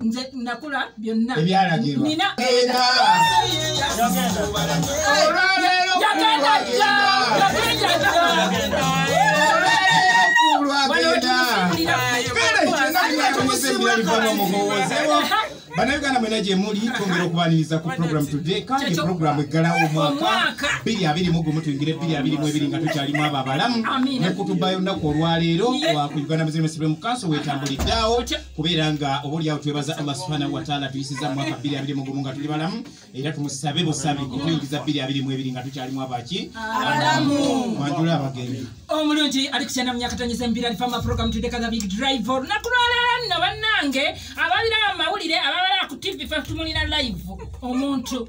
nze nakula byonna ebyalagirwa nina banauganda mwena gyemuli twongera okubaniriza ku program today kandi program eggalawo omwaka 221 tuyingire 222 nga tukyalimu abo abalamu nekutubayo nnaku olwaleero ku uganda muslim muslim council wetambuliddeawo kubeera nga oba olyawo twebaza allah subhanahu wataala tuyisiza mu mwaka bbiri abiri mugumu nga tuli balamu era tumusabe busabi okuyingiza bbiri abiri mu ebiri nga tukyalimu abaki alamu mwanjula abagenyi omulungi ali kukyana myaka tonyeza embiri ali fama program tudde kaga big drive olunaku lwaleero nno bannange ababira amawulire ababala ku tv fe tumulina live omuntu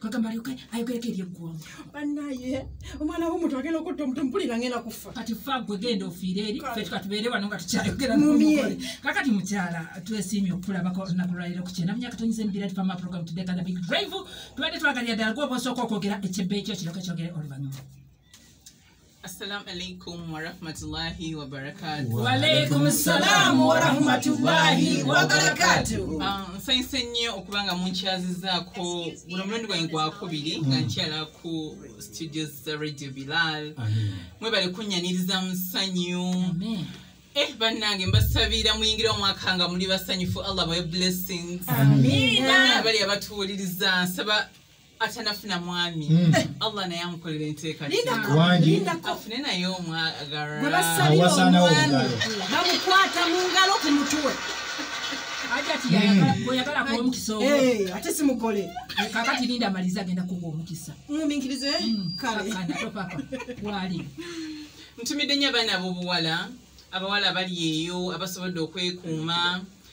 kagamba alyoke ayogereko eri eggwanga banaye omwana womuntu agenda okutta omuntu mpulira ngenda kufa kati fa gwe genda ofiire eri fe tukatubeere wano nga tukyayogera mumye kakati mukyala twesiimye okukulabako olunaku lwaliro ku kyenda myaka tonyiza emibira ti fama program tudekana big drive tubadde twagalira ddala gwoba osooka okwogera ekyebbe ekyo kiryoka kyogere oluvannyuma Assalamu alaikum wa rahmatullahi wa barakatuh. Wa alaikum assalam wa rahmatullahi wa barakatuh. Ah, Nsanyuse nnyo okuba nga munkyazizaako guno omulundi gwange gwakubiri mm. nga nkyala ku studios za Radio Bilal. Mwebale kunnyaniriza mu ssanyu. Eh bannange mbasabira muyingire omwaka nga muli basanyufu Allah bawe blessings. Amiina. Bali abatuwuliriza nsaba atanafuna mwami hmm. eh, allah naye amukolera enteekaafune naye omwagarabamukwata mu ngalo ku mutuwe ate simukole kakati linda amaliza agenda kuwa omukisa muminkirize hmm, kaletopapa wali ntumidde nyo abaana abobuwala abawala abali eyo abasobodde okwekuuma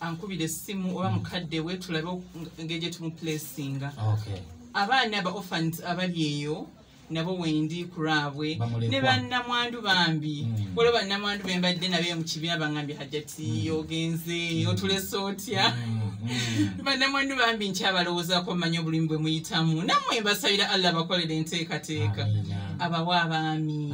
ankubira essimu oba mukadde we tulabe engeri gye tumupulesinga abaana aba ophant abali eyo nabo wendi kulwabwe ne bannamwandu bambi hmm. waliwo bannamwandu be mbadde nabe mu kibiina bangambye hajati hmm. ogenze hmm. otulese otya bannamwandu bambi nkyabalowoozako mmanyi obulimu bwe muyitamu namwe mbasabira allah bakolera enteekateeka abawa abaami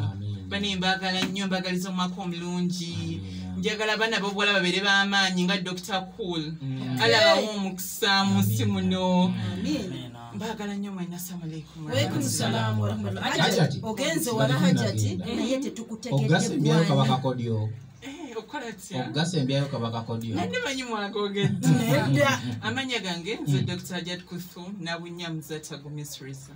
bane mbagala nnyo mbagaliza omwaka omulungi njagala abaana bobuwala babeere b'amaanyi nga dr cool mm. alabawo omukisa mu nsi muno mbagala nnyo mwena samualeikumogenze wala hajati naye tetukutegeddebwanaye okugasa embyayo kabakakodyo nandi manyi mwagogedde amanya gange nze mm. dr hajat kuthum nabunya muzatagumisrisa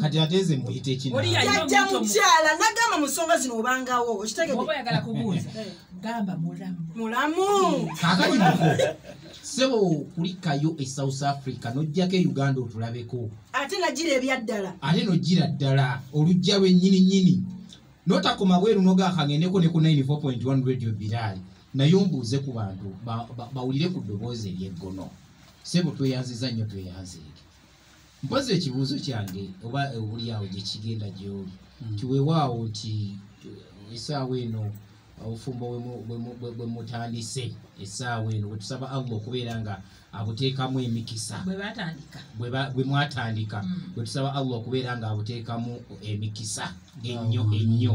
kati ate nze mbuyite kinajja mukyala nagamba mu nsonga zino obangawo okitegedeoyagala kubuuza eh. gamba mulamu mulamu kakati muko sebo kulikayo e south africa nojjako e uganda otulabeko ate najira ebyaddala ate nojira ddala olujja lwenyini nyini notakoma bweru nogakangendeko ne ku 94.1 radio biraali naye ombuuze ku bantu ba- ba- bawulire ku ddoboozi eryeggono sebo tweyanziza nnyo tweyanzeege mpozi ekibuuzo kyange oba obuli awo gye kigenda gyoli nti weewaawo nti eh, essaawa eno obufumbo bwe mu- bwe mu- bwe- bwe mutandise essaawa eno bwe tusaba allah okubeera nga abuteekamu emikisa bwe batandika bwe ba- bwe mwatandika Mm. bwe tusaba allah okubeera nga abuteekamu emikisa ennyo ennyo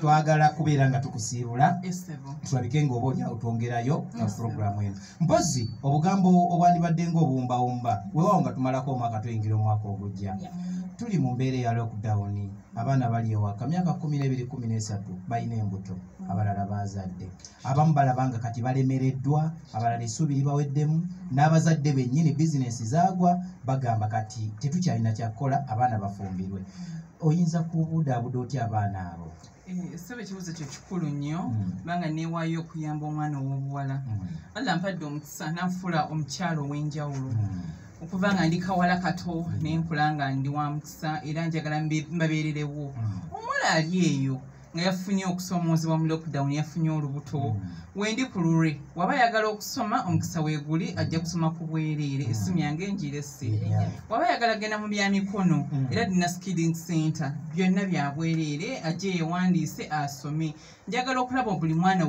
twagala kubeera nga tukusiibula tulabike nga oba olyawo twongerayo na puroguramu eno mpozi obugambo obwandibadde nga obuwumbawumba wewawo nga tumalako omwaka tuyingira omwaka ogujja tuli mu mbeera eya lockdown abaana bali ewaka myaka kumi nebiri kumi nesatu balina embuto mm. abalala bazadde abamu balaba nga kati balemereddwa abalala esuubi libaweddemu n'abazadde bennyini bizinesi zaagwa bagamba kati tetukyalina kyakukola abaana bafumbirwe oyinza kubudaabuda otya abaana abo Eh, saba ekibuzo kyo kikulu nnyo mm. kubanga neewaayo okuyamba omwana ow'obuwala mm. allah mpadde omukisa nanfuula omukyalo ow'enjawulo mm. okuva nga ndi kawala kato naye nkula nga ndi wa mukisa era njagala mbabeererewo omuwala ali eyo nga yafunye okusoomoozebwa mu lockdown yafunye olubuto mm. wendi ku lulwe waba ayagala okusoma omukisa weeguli ajja kusoma ku bwereere essimu mm. yange njiresi waba ayagala genda mu bya mikono mm. era dina skiding center byonna bya bwereere ajje yewandiise asome njagala okulaba buli mwana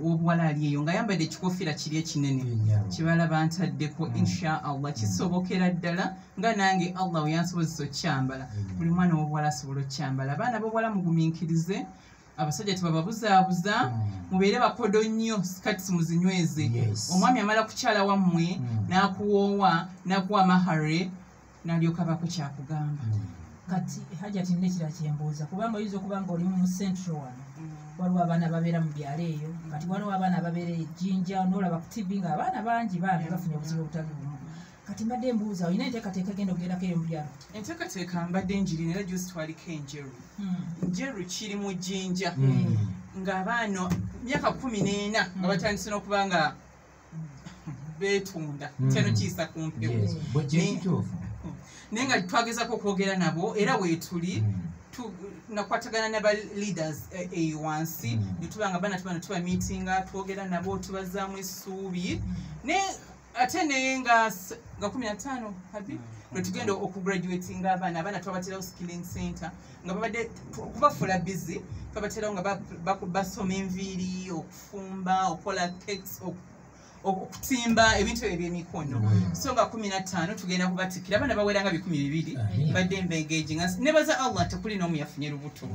w'obuwala ali eyo nga yambadde ekikofiira kiri ekinene kibala bantaddeko insha allah kisobokera ddala nga nange allah weyansobozesa okyambala mm. buli mwana wobuwala asobola okyambala abaana bobuwala muguminkirize abasajja tebababuzaabuza mm. mubeere bakodo nnyo sikati simuzinyweze omwami amala kukyala wammwe mm. nakuwoowa nakuwa mahare nalyoka bako kyakugamba kati hajati nekira kyembuuza kubanga oyinza okuba nga olimu mu central wano waliwo abaana babeera mu byalo eyo kati waliwo abaana babeera ejinja nolaba ku tv nga abaana bangi bambi bafunye obuzibu obutali bumu kati mbadde mbuuza olina enteekateeka egenda okugendako eyo mubyalo enteekateeka mbadde njiri era gyositwaliko enjeru hmm. njeru kiri mu jjinja hmm. ng'abaana myaka kumi n'ena nga hmm. batandise n'okuba nga betunda kyano kiyisa ku mpewo naye nga twagezako okwogera nabo era weetuli nakwatagana naba leaders eh, eyo eh, wansi netubanga bana tubana tuba meetinga twogera nabo tubazaamu essuubi naye ate naye nga nga kumi nataano habi mm, lwetugenda okugraduatinga abaana abaana twabaterawo skilling center nga babadde okubafuula busy twabaterawo nga basoma enviiri okufumba okukola cakes okutimba ebintu ebyo byemikono mm. so nga kumi nataano tugenda kubatikira abaana bawera nga bikumi bibiri badde mbengeji nga nebaza allah tekuli noomu yafunye lubuto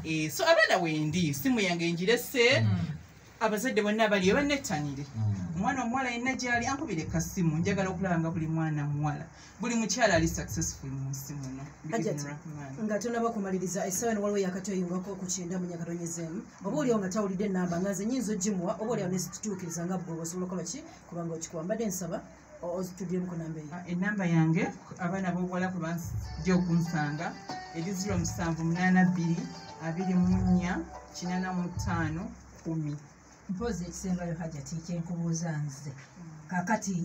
eh, so abaana wendi simu yange njirese mm. abazadde bonna abaliyo banettanire mm. omwana omuwala yenna gyali ankubire kasimu njagala okulaba nga buli mwana muwala buli mukyala ali successful mu nsi muno nga tonaba kumaliriza esawa waliwo yakati oyingako ku kyenda munyakalonyezeemu oba olio nga tawulidde enamba nga nze nyinza ogimuwa oba olio nesitutuukiriza nga bwoba osobola okukola ki kubanga okikuwa mbadde nsaba ozituddemu ku namba eyo enamba yange abaana bobuwala kwe bajja okunsanga eri ziro musanvu munaana bbiri abiri mu nnya kinana mu ttaano kumi mpoozi ekisembayo hajati kyenkubuuza nze kakati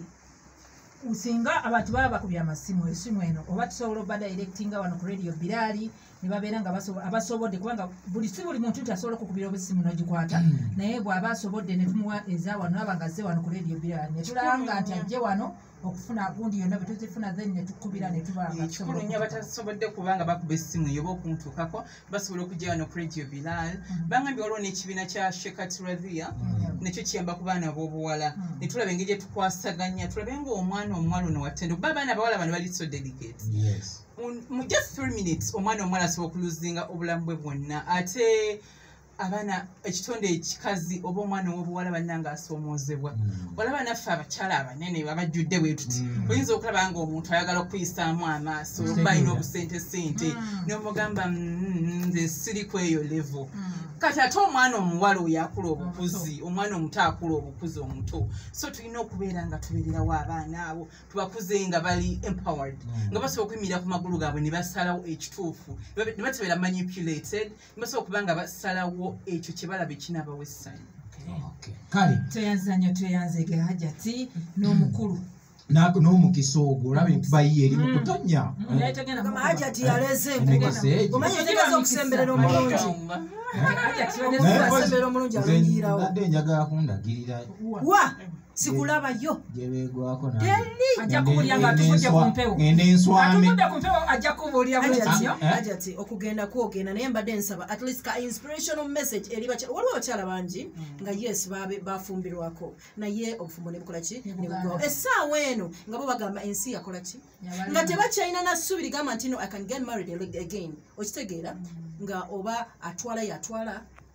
singa abantu baba bakubya amasimu esimu eno oba tusobola oba directinga wano ku radio biraali nebabeera nga abasobodde kubanga buli si buli muntu nti asobola okukubira obusimu nogikwata mm. naye bwaba asobodde netumuwa eza wano naba nga ze wano ku radio birala netulanga nti ajje wano okufuna gundi yonna bwetuzifuna then netukubira netubaekikulunya batasobodde kubanga bakuba essimu yoba okuntuukako basobola okujja wano ku radio bilal mm. bangambye waliwo n'ekibiina kya shekat radhia mm. nekyo kiyamba ku baana b'obuwala netulaba engeri gyetukwasaganya tulabe ngaomwana omuwala ono wattendo kuba abaana abawala bano bali so delicate mu just three minutes omwana omwana asobola okuluzinga obulamu bwe bwonna ate abaana ekitonde ekikazi oba omwana owobuwala bananga asoomoozebwa hmm. olaba naffe abakyala abanene abajjudde bwetuti hmm. oyinza okulaba nga omuntu ayagala okuyisaamu amaaso oba alina obusente sente hmm. nomugamba mm, nze siri ku eyo levo kati ate omwana omuwala oyo akula obukuzi omwana omuto akula obukuzi omuto so tulina okubeera nga tubeererawo abaana abo tubakuze nga bali empowered mm. nga basobola okuyimirira ku magulu gaabwe ne basalawo ekituufu ne batabera manipulated ne basobola okuba nga basalawo ekyo kye balaba ekinabawo essanyu kale tweyanziza nnyo tweyanzege hajati n'omukulu n'omukisa ogwo olaba enkuba yiye eri mu mm. kutonya mm. eh. hajati yaleze enkubaomanya otegeza okusemberera omulungi eh? nze njagala kundagirira wa sikulabayo ajja kubulira nga atuvudde ku mpewo atuvudde ku mpewo ajja kubulira bwetyo ajati eh? okugenda kwogenda naye mbadde nsaba at least ka inspirational message eri bakyala waliwo abakyala bangi hmm. nga yes bafumbirwako naye obufumbo nebukola ki nebugwawo essaawa eno nga bo bagamba ensi yakola ki nga tebakyalina nassubi ligamba nti no i can get married again okitegeera hmm. nga oba atwala yatwala